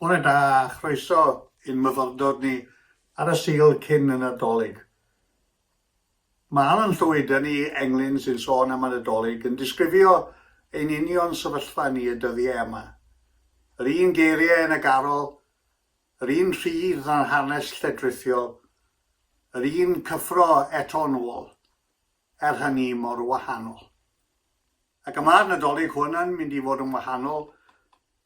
Bore da a chroeso i'n myfyrdod ni ar y Sul cyn y Nadolig. Mae Alan Llwyd yn i englyn sy'n sôn am y Nadolig yn disgrifio ein union sefyllfa ni y dyddiau yma. Yr un geiriau yn y garol Yr un rhydd â'n hanes lledrithiol, yr un cyffro eto'n ôl, er hynny mor wahanol. Ac y mae'r Nadolig hwn yn mynd i fod yn wahanol,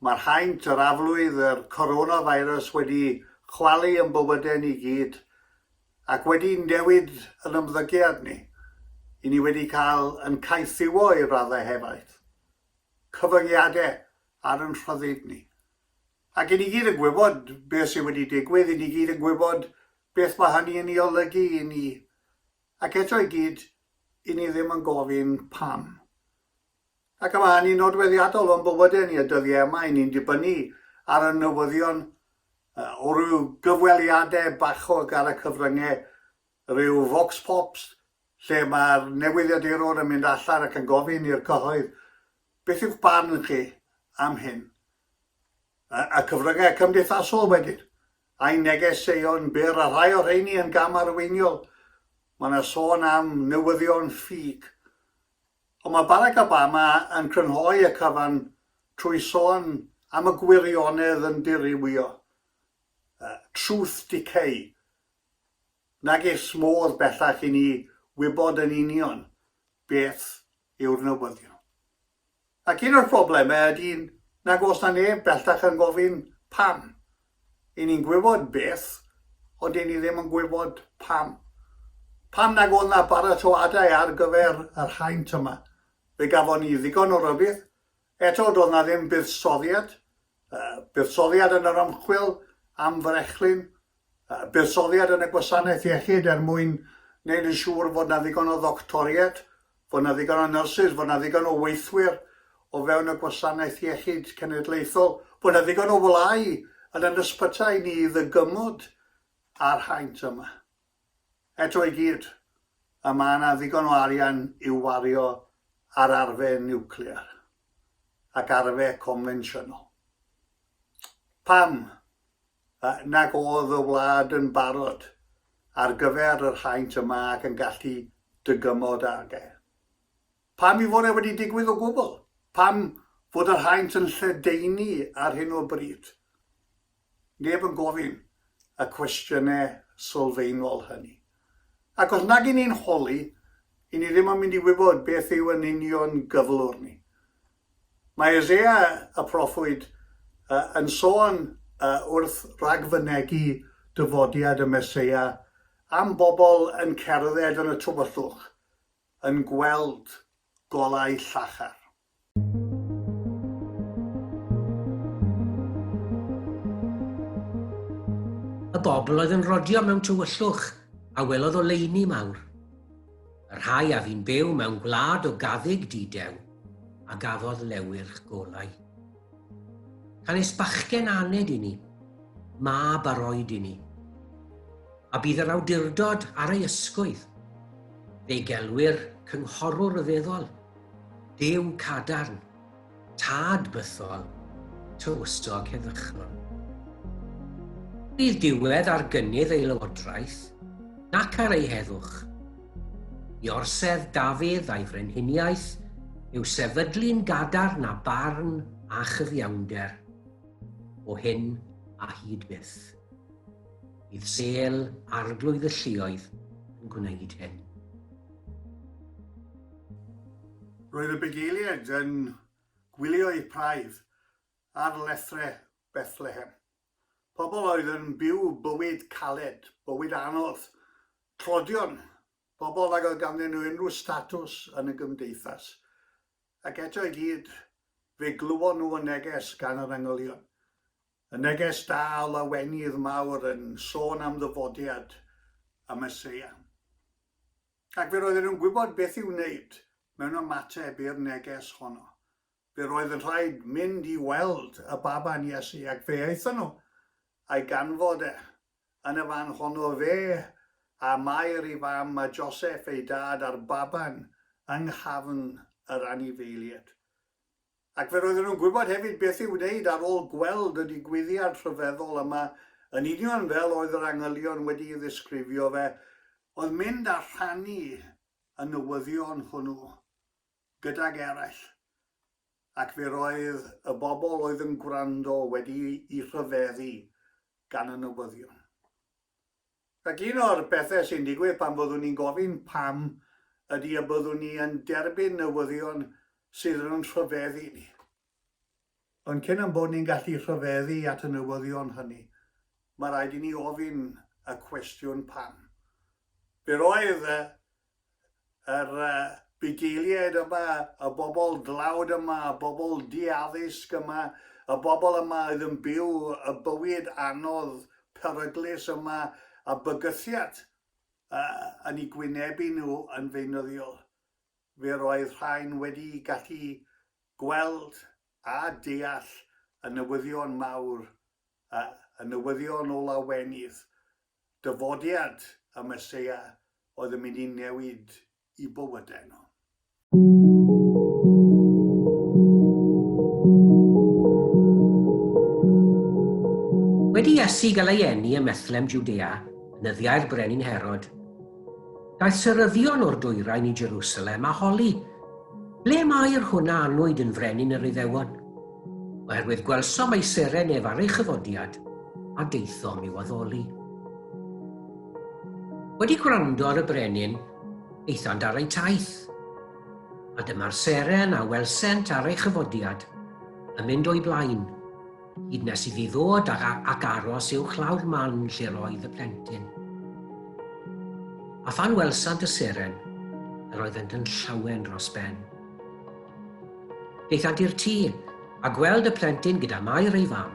mae'r haint, yr aflwydd, yr coronavirus wedi chwalu yn bywydau ni gyd, ac wedi newid yn ymddygiad ni, i ni wedi cael yn caethiwo i raddau hefaith, cyfyngiadau ar yn rhyddid ni, Ac 'y ni gyd yn gwybod beth sydd wedi digwydd, 'y ni gyd yn gwybod beth mae hynny yn ei olygu i ni, ac eto i gyd, 'y ni ddim yn gofyn pam. Ac y mae hynny'n nodweddiadol o'n bywydau ni y dyddiau yma, 'y ni'n dibynnu ar y newyddion o ryw gyfweliadau bachog ar y cyfryngau, rhyw vox pops, lle mae'r newyddiadurwr yn mynd allan ac yn gofyn i'r cyhoedd, beth yw'ch barn chi am hyn? y cyfryngau cymdeithasol wedyn, a'i neges ei o'n byr a rhai o rheini yn gam arweiniol, mae yna sôn am newyddion ffug. Ond mae Barack Obama yn crynhoi y cyfan trwy sôn am y gwirionedd yn dirywio. Truth Decay. Nages modd bellach i ni wybod yn union beth yw'r newyddion. Ac un o'r problemau ydy nag oes 'na neb bellach yn gofyn pam. Y'n ni'n gwybod beth, ond y'n ni ddim yn gwybod pam. Pam nag oedd 'na baratoadau ar gyfer yr haint yma? Fe gafon ni ddigon o rybudd. Eto, doedd 'na ddim buddsoddiad. Yy, buddsoddiad yn yr ymchwil am frechlyn, buddsoddiad yn y gwasanaeth iechyd er mwyn gwneud yn siŵr fod 'na ddigon o ddoctoriaid, fod 'na ddigon o nyrsys, fod 'na ddigon o weithwyr o fewn y gwasanaeth iechyd cenedlaethol, bod 'na ddigon o wlâu yn yn ysbytai ni i ddygymod â'r haint yma. Eto i gyd, a ma' 'na ddigon o arian i'w wario ar arfe niwclear ac arfe confensiynol. Pam nag oedd y wlad yn barod ar gyfer yr haint y mae ac yn gallu dygymod ag e. Pam i fod e wedi digwydd o gwbl? Pam fod yr haint yn lledaenu ar hyn o bryd? Neb yn gofyn y cwestiynau sylfaenol hynny. Ac os nag 'yn ni'n holi, 'yn ni ddim yn mynd i wybod beth yw yn union gyflwr ni. Mae Eseia y proffwyd yn sôn wrth ragfynegi dyfodiad y Meseia am bobl yn cerdded yn y tywyllwch, yn gweld golau llachar. Y bobl oedd yn rodio mewn tywyllwch a welodd oleuni mawr. Y rhai a fi'n byw mewn gwlad o gaddig didew a gafodd lewyrch golau. Canys bachgen aned i ni, mab ar oed i ni. A bydd yr awdurdod ar ei ysgwydd. Fe'i gelwir cynghorwr ryfeddol, Duw cadarn, Tad bythol, tywysog heddychlon. Bydd diwedd ar gynnydd ei lywodraeth, nac ar ei heddwch. I orsedd Dafydd a'i frenhiniaeth yw sefydlu'n gadarn a barn a chyfiawnder, o hyn a hyd byth. Bydd sêl Arglwydd y Lluoedd yn gwneud hyn. Roedd y bugeiliaid yn gwylio eu praidd ar lethrau Bethlehem. Pobl oedd yn byw bywyd caled, bywyd anodd, tlodion, pobl nag oedd ganddyn nhw unrhyw statws yn y gymdeithas. Ac eto i gyd, fe glywon nhw y neges gan yr angylion. Y neges da o lawenydd mawr yn sôn am ddyfodiad y Meseia. Ac fe roedden nhw'n gwybod beth i'w wneud mewn ymateb i'r neges honno. Fe roedd yn rhaid mynd i weld y baban Iesu, ac fe aethon nhw a'i ganfod e. Yn y fan honno fe a Mair ei fam a Joseff ei dad a'r baban yng nghafn yr anifeiliaid. Ac fe roedden nhw'n gwybod hefyd beth i'w wneud ar ôl gweld y digwyddiad rhyfeddol yma, yn union fel oedd yr angylion wedi'i ddisgrifio fe, oedd mynd a rhannu y newyddion hwnnw gydag eraill. Ac fe roedd y bobl oedd yn gwrando wedi'u rhyfeddu gan y newyddion. Ac un o'r pethau sy'n digwydd pan fyddwn ni'n gofyn pam ydy y byddwn ni yn derbyn newyddion sydd yn rhyfedd i ni. Ond cyn ein bod ni'n gallu rhyfeddu at y newyddion hynny, mae rhaid i ni ofyn y cwestiwn pam. Be roedd y yr bugeiliaid yma, y bobl dlawd yma, y bobl di-addysg yma, y bobl yma oedd yn byw y bywyd anodd, peryglus yma, a bygythiad yn eu gwynebu nhw yn feunyddiol. Fe roedd rhain wedi gallu gweld a deall y newyddion mawr, y newyddion o lawenydd, Dyfodiad y Meseia oedd yn mynd i newid i bywydau nhw. Wedi Iesu gael ei eni ym Methlehem Jwdea, nyddiau'r Brenin Herod, daeth seryddion o'r dwyrain i Jerusalem a holi, Ble mae'r hwn a anwyd yn frenin yr Iddewon? Oherwydd gwelsom ei seren ef ar ei chyfodiad, a daethom i'w addoli. Wedi gwrando ar y brenin, eithant ar eu taith, a dyma'r seren a welsent ar ei chyfodiad, yn mynd o'i blaen, hyd nes iddi ddod ag, ag aros i'w chlawr man lle roedd y plentyn. A phan welsant y seren, yr oeddent yn llawen dros ben. Aethant i'r tŷ, a gweld y plentyn gyda Mair ei fam.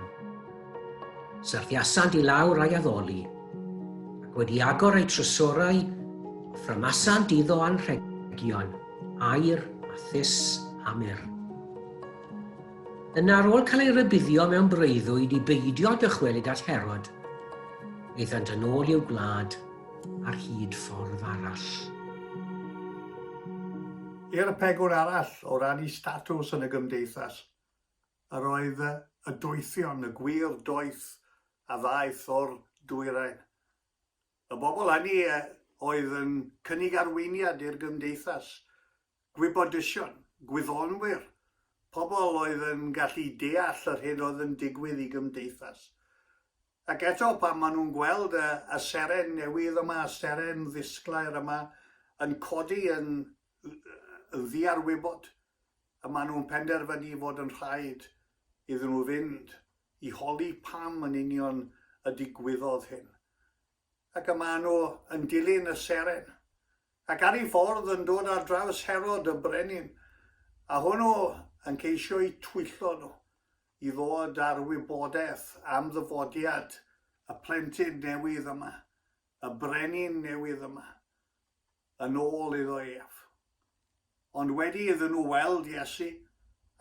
Syrthiasant i lawr a'i addoli, ac wedi agor eu trysorau, offrymasant iddo anrhegion, aur, a thus, a myr. Yna ar ôl cael ei rybuddio mewn breuddwyd i beidio dychwelyd at Herod, aethant yn ôl i'w gwlad ar hyd ffordd arall. I'r pegwn arall, o ran eu statws yn y gymdeithas, yr oedd y doethion, y gwir doeth a ddaeth o'r dwyrain. Y bobl hynny oedd yn cynnig arweiniad i'r gymdeithas, gwybodysion, gwyddonwyr, pobl oedd yn gallu deall yr hyn oedd yn digwydd i gymdeithas. Ac eto, pan maen nhw'n gweld y y seren newydd yma, y seren ddisglair yma, yn codi yn yn ddiarwybod, y maen nhw'n penderfynu fod yn rhaid iddyn nhw fynd i holi pam yn union y digwyddodd hyn. Ac y maen nhw yn dilyn y seren. Ac ar ei ffordd yn dod ar draws Herod y brenin, a hwnnw yn ceisio'u twyllo nhw. i ddod â'r wybodaeth am ddyfodiad y plentyn newydd yma, y brenin newydd yma, yn ôl iddo ef. Ond wedi iddyn nhw weld Iesu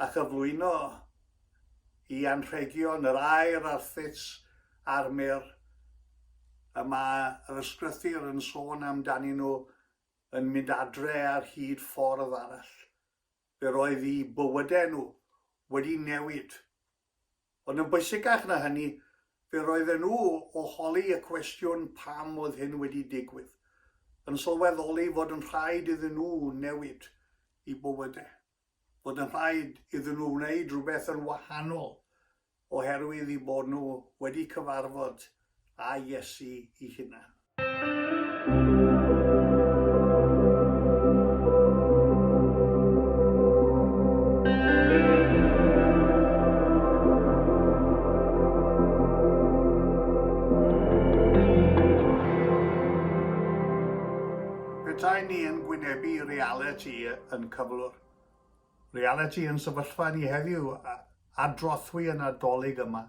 a chyflwyno i anrhegion yr aer a'r thits a'r myr, y mae yr ysgrythur yn sôn amdanyn nhw yn mynd adre ar hyd ffordd arall. Fe roedd eu bywydau nhw wedi newid. Ond yn bwysicach na hynny, fe roedden nhw, o holi y cwestiwn pam oedd hyn wedi digwydd, yn sylweddoli fod yn rhaid iddyn nhw newid eu bywydau, fod yn rhaid iddyn nhw wneud rhywbeth yn wahanol oherwydd eu bod nhw wedi cyfarfod â Iesu ei hunan. Petai ni yn gwynebu realiti yn cyflwr, Realiti ein sefyllfa ni heddiw a drothwy y Nadolig yma,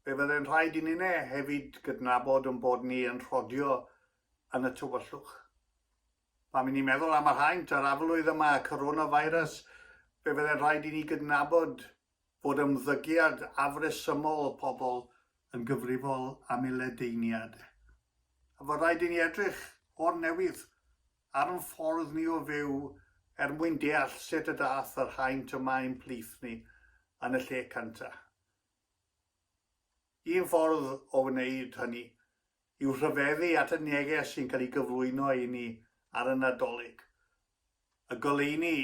fe fydde'n rhaid i ninne hefyd gydnabod ein bod ni yn rhodio yn y tywyllwch. Pan i ni'n meddwl am yr haint a'r aflwydd y mae Coronavirus, fe fydde'n rhaid i ni gydnabod fod ymddygiad afresymol pobl yn gyfrifol am ei ledaeniad. A fo rhaid i ni edrych o'r newydd ar 'n ffordd ni o fyw er mwyn deall sut y dath yr haint yma i'n plith ni yn y lle cynta. Un ffordd o wneud hynny yw rhyfeddu at y neges sy'n cael ei gyflwyno i ni ar y Nadolig, y goleuni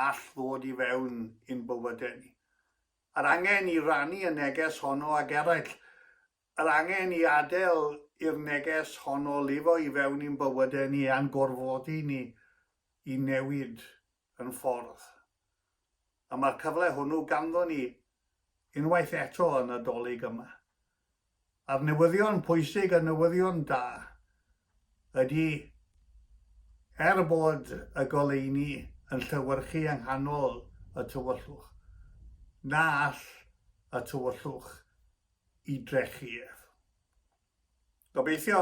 all ddod i fewn i'n bywydau ni. Yr angen i rannu y neges honno ag eraill Yr angen i adael i'r neges honno lifo i fewn i'n bywydau ni a'n gorfodi ni i newid yn ffordd. A mae'r cyfle hwnnw ganddon ni unwaith eto y Nadolig yma. A'r newyddion pwysig, y newyddion da, ydy, er bod y goleuni yn llewyrchu yng nghanol y tywyllwch, na all y tywyllwch i drechu ef. Gobeithio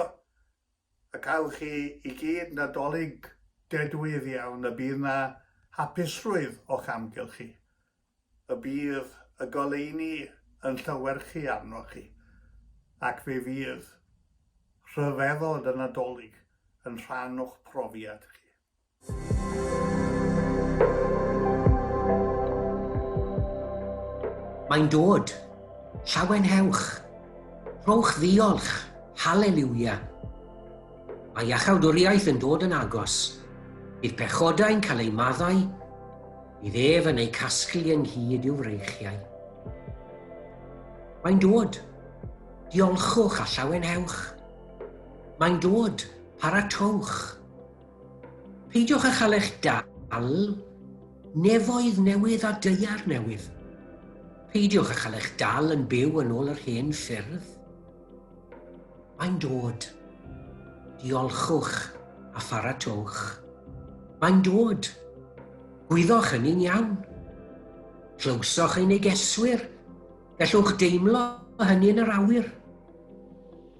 y cawch chi i gyd Nadolig dedwydd iawn, y bydd 'na hapusrwydd o'ch amgylch chi, y bydd y goleuni yn llewyrchu arnoch chi, ac fe fydd rhyfeddod y Nadolig yn rhan o'ch profiad chi. Mae'n dod! Llawenhewch! Rhowch ddiolch! Haleliwia! Mae Iachawdwriaeth yn dod yn agos. Bydd pechodau'n cael eu maddau, bydd ef yn eu casglu ynghyd i'w freichiau. Mae'n dod! Diolchwch a llawenhewch! Mae'n dod! Paratowch! Peidiwch â chael eich dal, nefoedd newydd a deiar newydd. Peidiwch â chael eich dal yn byw yn ôl yr hen ffyrdd. Mae'n dod. Diolchwch a pharatowch. Mae'n dod. Gwyddoch hynny'n iawn. Clywsoch ei negeswyr. Gallwch deimlo hynny yn yr awyr.